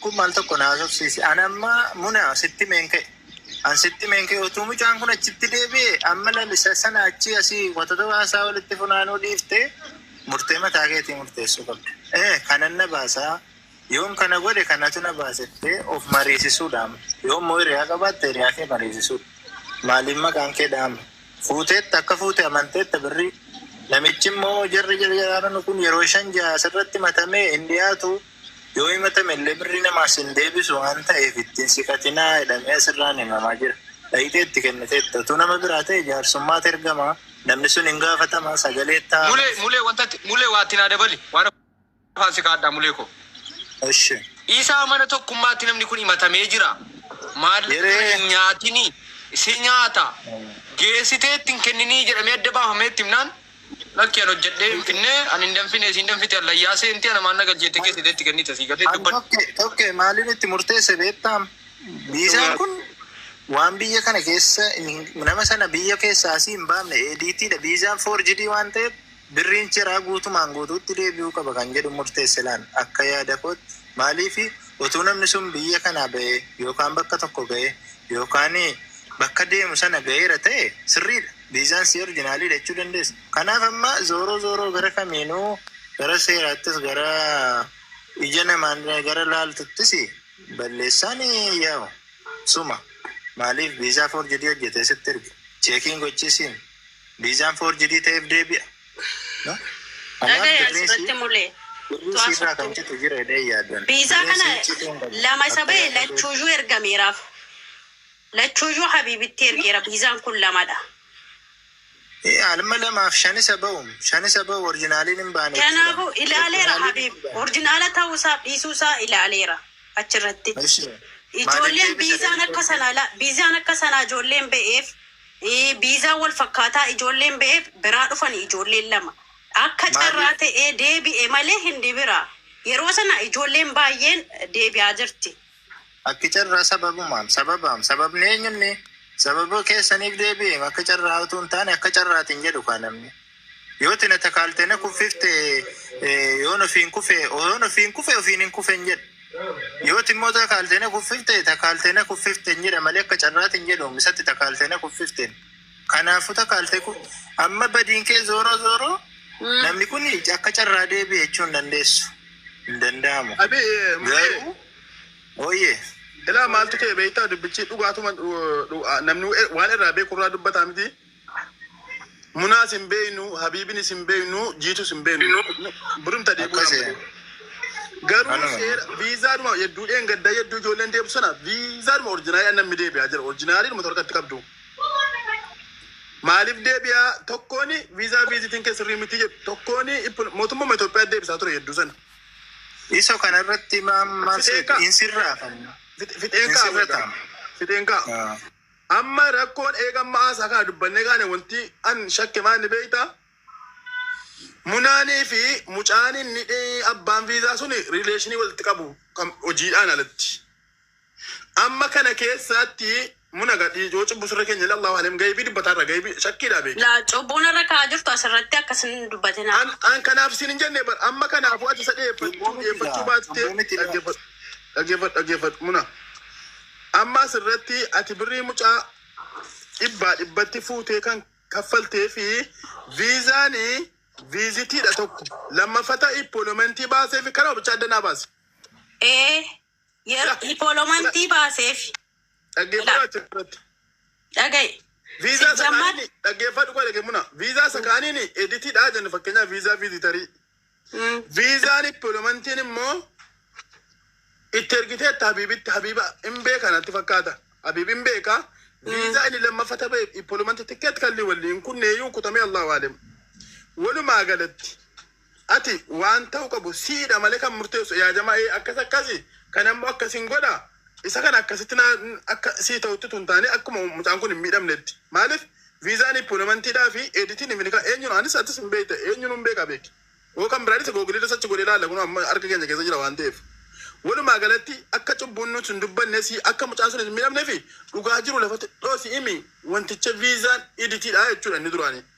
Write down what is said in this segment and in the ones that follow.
Kun mal tokko na hasofsiise. An amma muna sitti meen ka'e. An sitti meen ka'e utuu mucaan kun achitti deebi'e amma lalisa sana achii asii wantoota haasaa walitti funaanuu dhiifte murtee mataa keetii murteessuu qabda. Ee kanan na baasaa yoon kana godhe kanatu na baasettee of mariisisuudha amma. Yoon immoo hiriyaa qabaatte hiriyaa kee mariisisuudha. Maaliin maqaan kee dha'ama? Fuuteetta akka fuute amanteetta birrii. Namichi immoo jarri jarjaraaranu kun yeroo shan ja'a asirratti matamee hin dhiyaatu. Yoo himatamellee birrii namaa sin deebisu waan ta'eef itti hin siqatinaa jedhamee asirraan himamaa jira. Dhayxee itti kenniteetta. Utuu nama biraa ta'e jaarsummaatu ergama, namni sun hin gaafatama, sagalee itti haa Mulee, amansiisu. mulee, wanta itti, mulee waa itti naa dabali. Waan afaan si kaa'adhaa mulee koo. Eshi. Dhiisaa mana tokkummaatti namni kun himatamee jira. Maallaqa kana Yeree. hin nyaatinii. Si nyaata. Geessitee itti hin kenninii jedhamee adda baafamee itti himnaan Lakki an hojjedhee hin finne an hin danfine isiin danfite an layyaasee inti ana maan na galchee itti geessite itti kennite sii galee An dubbadhu. tokke tokke maalin itti murteesse beektaam? Viizaan kun waan biyya kana keessa hin- nama sana biyya keessaa asii hin baafne ADTdha. Viizaan foorjidii waan ta'eef birriin chiraa guutumaan guutuutti deebi'uu qaba kan jedhu murteesse laan akka yaada kootti. Maaliifi utuu namni sun biyya kanaa ba'ee yookaan bakka tokko ga'ee yookaan bakka deemu sana ga'eera ta'e sirriidha. Viizaan sii orjinaaliidha jechuu dandeessa. Kanaaf amma zooroo zooroo gara kamiinuu gara seeraattis gara ija namaan gara laaltuttis balleessaan yaa'u suma. Maaliif viizaa foorjidii hojjetee sitti erge cheekiin gochiisiin viizaan foorjidii ta'eef deebi'a. No? Kanaaf Dhagaya birriin sii asirratti mule. birriin Tu'aa siirraa kan softuu. citu jira jedhee hin yaaddan. Viizaa Birriin kana sii cituu hin qabu. lama isa Akka bahe yaada kootti. lachuuyyuu ergameeraaf. Lachuuyyuu habiibitti ergeera viizaan kun lamadha. Ee alma lamaaf shan isa ba'u shan isa ba'u orjinaaliin hin baane jechuudha. Kanaafu ilaaleera Orjinaaliin habiib hin baane. orjinaala ta'uu isaaf dhiisuu isaa ilaaleera achirratti. Ishee maaliif Ijoolleen deebisa viizaan akka deebisuu? sanaa la- viizaan akka sanaa ijoolleen ba'eef eh, viizaan wal fakkaataa ijoolleen ba'eef biraa dhufan ijoolleen lama akka Maaliif? carraa ta'ee deebi'e malee hindi biraa yeroo sana ijoolleen baay'een deebi'aa jirti Akka carraa sababumaam, sababaam, sababni eenyunni sababa keessaniif deebi'eem akka carraa utuu hin taane akka carraatiin jedhu kaa namni. Yoo tina takaalte na kuffifte eh, yoon ofiin kufe yoon ofiin kufe ofiin hin kufe hin jedhu. Yoo immoo takaalte na kuffifte takaalte na kuffifte hin jedha malee akka carraatiin jedhu isatti takaalte na kuffifteen. Kanaafuu takaalte kun amma badiin kee zooroo zooroo Mm. namni kun akka carraa deebi'e jechuu hin dandeessu. Hin danda'amu. Abi Garuu ooyyee ilaa maaltu ta'e beektaa dubbichi dhugaatuma dhu- dhu- namni e- waan irraa beeku irraa dubbataa miti. Munaas hin beeknu, Habiibinis hin beeknu, Jiitus hin beeknu. Birumta deebi'uu Akkasi. dha. Garuu Kanuma. seera viizaadhuma hedduudheen gaddaa hedduu ijoolleen deebisu sana viizaadhuma orjinaalii namni deebi'aa jira. Orjinaalii dhuma torkatti qabdu. Maaliif deebi'aa tokkoon viizaa viizitiin kee sirrii miti jedhu tokkoon mootummaa Itoophiyaa deebisaa ture hedduu sana. Iso kana irratti maammaa Fixeenkaa. hin sirraafamu. Fix- Fixeen kaa Sirra ta'a. fixeen kaa. Ah. Amma rakkoon eegamma haasaa kana dubbannee kaane wanti an shakke maal ni beekta? Munaanii fi mucaan inni dhee- abbaan viizaa sun rileeshinii walitti qabu kan hojiidhaan alatti. Amma kana keessaatti muna gadhii yoo cubbu sirra keenya ilaallahu halem gaybii dubbataa irra gaybii shakkiidhaa beeki. La cubbuu narra ka'aa jirtu asirratti akkas hin dubbatinaa. An an kanaaf siin hin jenne bar amma kanaafuu ati isa dhiyeeffachuu dhiyeeffachuu baattee dhaggeeffadhu dhaggeeffadhu dhaggeeffadhu muna amma asirratti ati birrii mucaa dhibbaa dhibbatti fuutee kan kaffaltee fi viizaani viizitiidha tokko lammaffata ippolomentii baasee fi kanuma bichaa adda naa baase. Ee Yeroo diipolomantii baaseef Dhaggeeffadhu achirratti. dhaga'i. Viizaa isa Sijjammaa- kaaniin dhaggeeffadhu qofa dhaggeeffadhu muna. Viizaa isa kaaniin editiidhaa jenna fakkeenyaaf viizaa viizitarii. Mm. Viizaan dippiloomantiin immoo itti ergiteetta Habiibitti Habiiba hin beekan natti fakkaata. Habiib hin beeka. Viizaa inni lammaffaa ta'e dippiloomantii tikkeet kalli waliin kunneeyyuu kutamee Allahu aalam. Walumaa galatti Ati waan ta'u qabu siidha malee kan murteessu yaa jamaa ee akkas akkasi kan ammo akkasin godha isa kana akkasitti naa akka sii ta'utti tun taane akkuma mucaan kun hin miidhamnetti maalif viizaa ni puunamantii dhaa fi eeditii ni finikaa eenyuun anis atis hin beekta eenyuun hin beeka beeki yoo kan biraadis googiliirra sachi godhee laala kun amma harka keenya keessa jira waan ta'eef walumaa galatti akka cubbuun nuti hin dubbanne si akka mucaan sun hin miidhamne fi dhugaa jiru lafatti dhoosi imi wanticha viizaan eeditii dhaa jechuudha inni duraanii.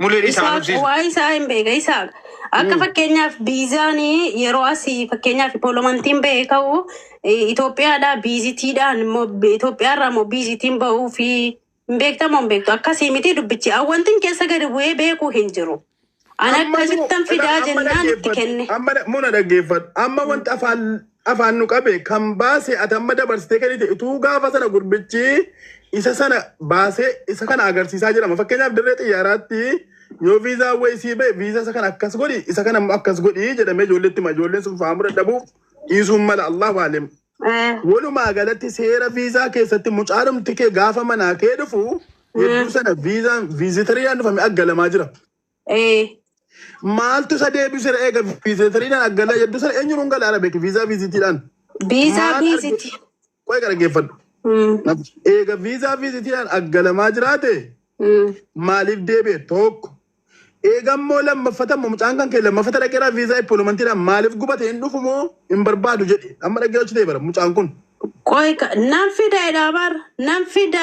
Mulee dhiisaa Isaaq nubsiisu. waa'ee isaa hin beeka isaaq akka fakkeenyaaf biizaan yeroo asii fakkeenyaaf poolomantiin ba'ee ka'u eh, Itoophiyaadhaa biizitiidhaan immoo bi- Itoophiyaarraa immoo biizitiin ba'uu fi hin beektamoo hin beektu akkasii miti dubbichi awwantiin keessa gadi bu'ee beekuu hin jiru. An Amma akkasittan fidaa amma jennaan itti dhaggeeffadhu. kenne. Amma dha- muna dhaggeeffadhu. Amma wanti afaan afaan nu qabe kan baase ati amma dabarsitee kennite utuu gaafa sana gurbichi isa sana baasee isa kana agarsiisaa jedhama fakkeenyaaf dirree xiyyaaraatti yoo viizaa wayii sii ba'e viizaa isa kana akkas godhi isa kana immoo akkas godhi jedhamee ijoolleetti hima ijoolleen sun faamuu dadhabuuf dhiisuun mala allahu aalim Eh, walumaa galatti seera viizaa keessatti mucaadhumti kee gaafa manaa kee dhufu hedduu sana viizaan viizitariidhaan dhufame aggalamaa jira Ee. Maaltu isa deebisera eega viizeetariidhaan aggalaa jedhu sana eenyuun hin gala arabeek viizaa viizitiidhaan. Viizaa Maal arge- viiziti. Qo'ee gara geeffadhu. Mm, Eega viizaa viizitiidhaan aggalamaa jiraate mm. maaliif deebi'e tokko. Eega immoo lammaffata immoo mucaan kan kee lammaffata dhaqeeraa viizaa ippolomantiidhaan maaliif gubate hin dhufu moo hin barbaadu jedhe amma dhaggeeffachuu ta'e bara mucaan kun. Qoy ka- nan fida jedhaa bar nan fida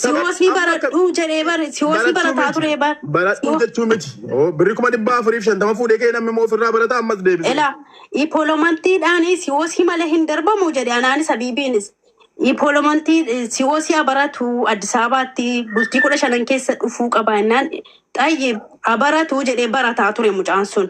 siwoosii Amma akka- baradhuu jedhee bar siwoosii barataa turee bar Baradhuu siwo- jechuu miti. Oo, Birri kuma dhibbaa afuriif shantama fuudhee kee namni immoo ofirraa barata ammas deebisee. Ela ipolomantiidhaanis siwoosii malee hin darbamu jedhe anaanis abiibiinis ipolomantii siwoosii haa baratu Addis Ababaatti bultii kudha shanan keessa dhufuu qaba innaan xayyi haa baratu jedhee barataa ture mucaan sun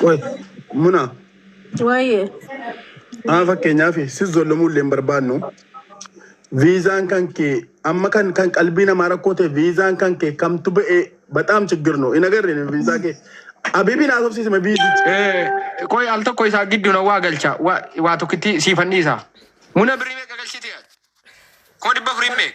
Qoy muna Waayee. haa fakkeenyaaf si zollomuu illee hin barbaannu. Viizaan kan kee amma kan kan qalbii namaa rakkoo ta'e viizaan kan kee kamtu ba'ee baxaam chiggir nu hin agarre nu viizaa kee. Abibiin haasofsiise ma viizii. Eh, Qoy al tokko isaa gidduu na waa galcha. Waa waa tokkitti siifan dhiisa. Muna birrii meeqa galchiti? Koo dhibba afurii meeqa?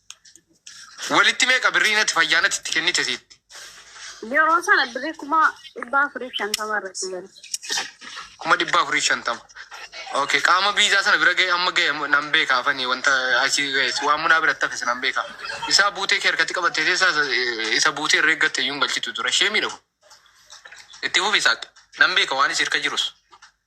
Walitti meeqa birrii natti fayyaa natti itti kennite siitti? Yeroo sana birrii kuma dhibba afurii fi shantama irratti gale. Kuma dhibba afurii fi shantama. Okay, qaama biizaa sana bira ga'e amma ga'e nan beeka afanii wanta asii ga'es waan munaa biratti hafes nan beeka. Isaa buutee kee harkatti qabattee teessaa isa- isa buutee irra eeggatte iyyuu hin galchitu ture. Ishee miidhagu. Itti fufi isaatti. Nan beeka waan isii harka jirus.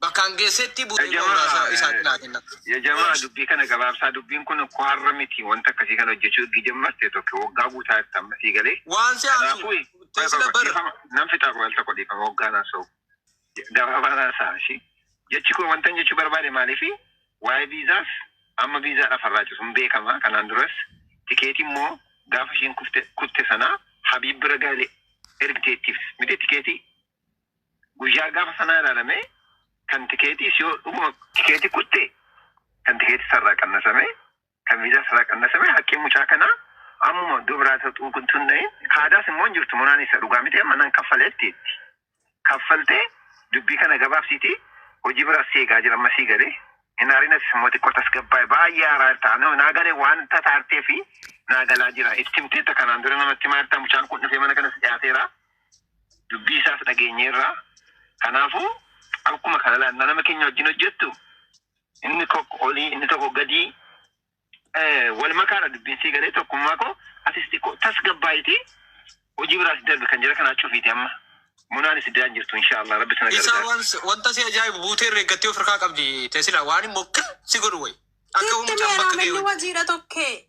Bakkaan geessetti bu'ee ba'u raasaa isaa cinaa kenna. Ya jamaa dubbii kana gabaabsaa dubbiin kun ko har'a miti wanta akkasii kana hojjechuu ergi jammartee tokko waggaa guutaa jirta amma sii galee Waan si aarsu kanaafuu qoy qoy teessila qoy bar. dhiifama nan fixaa qoy al tokko dhiifama waggaan haasa'u gabaabaan haasa'a ishii jechi koo wantan jechuu barbaade maaliifi waa'ee viizaas amma viizaadhaaf har'aa citu hin beekama kanaan duras tikeetii immoo gaafa isheen kufte kutte sanaa habiib bira gaale ergiteettiif miti tikeetii guyyaa gaafa sanaa ilaalamee kan tikeetiis yoo dhuguma tikeetii kutte kan tikeetii isarraa qannasamee kan viizaa isarraa qannasamee haqqiin mucaa kanaa ammuma iddoo biraa isa xunqun tunna'in kaadaas immoo hin jirtu monaan isa dhugaa miti amma nan kaffaleetti itti kaffaltee dubbii kana gabaabsiitii hojii biraas si eegaa jira amma sii galee hin haarinas immoo xiqqoo tasgabbaa'e baay'ee haaraa irta anoo naa galee waan tataartee fi naa galaa jira itti himteetta kanaan dura namatti maartaa mucaan kun dhufee mana kanas dhiyaateera. Dubbii isaas dhageenyeerra. Kanaafuu akkuma kana laannaa nama keenya wajjin hojjettu inni tokko olii inni tokko gadii eh, wal makaadha dubbiin sii galee tokkummaa koo atis xiqqoo tasgabbaa'itii hojii biraas darbe kan jira kanaa cufiiti amma munaan itti daan jirtu inshaallah rabbi sana Isaa gargaara. waan si- wanta si ajaa'ibu buutee irra eeggattee of harkaa qabdi teessila waan immoo kan si godhu wayi. Akka Sitti humna meera akka ga'e malli wayi. wajiira tokkee.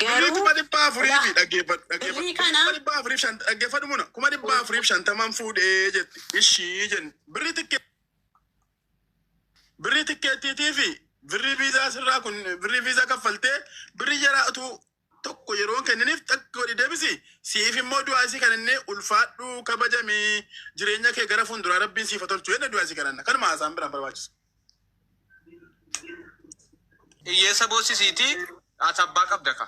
Birrii kuma dhibba afurii fi dhaggeeffadhu. Birrii kana. Kuma dhibba afurii fi shan dhaggeeffadhu muna. Kuma dhibba afurii fi shantamaan fuudhee jetti. Ishii jenni. Birrii tikkee. Birrii tikkeettiitii fi birrii viizaa sirraa kun birrii viizaa kaffaltee birrii jaraa utuu tokko yeroon kenniniif takka godhi deebisi. Siif immoo du'aa isii kan inni ulfaadhu kabajamii jireenya kee gara fuulduraa rabbiin siif haa tolchu jenna du'aa isii kananna. Kanuma haasaan biraan barbaachisa. Hiyyeessa boossisiitii ati abbaa qabda ka.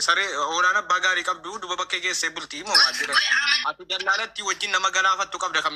Saree hoolaan abbaa gaarii qabdu duba bakkee keessee bulti immoo maal jedhan. Ati dallaalatti wajjin nama galaafattu qabda ka.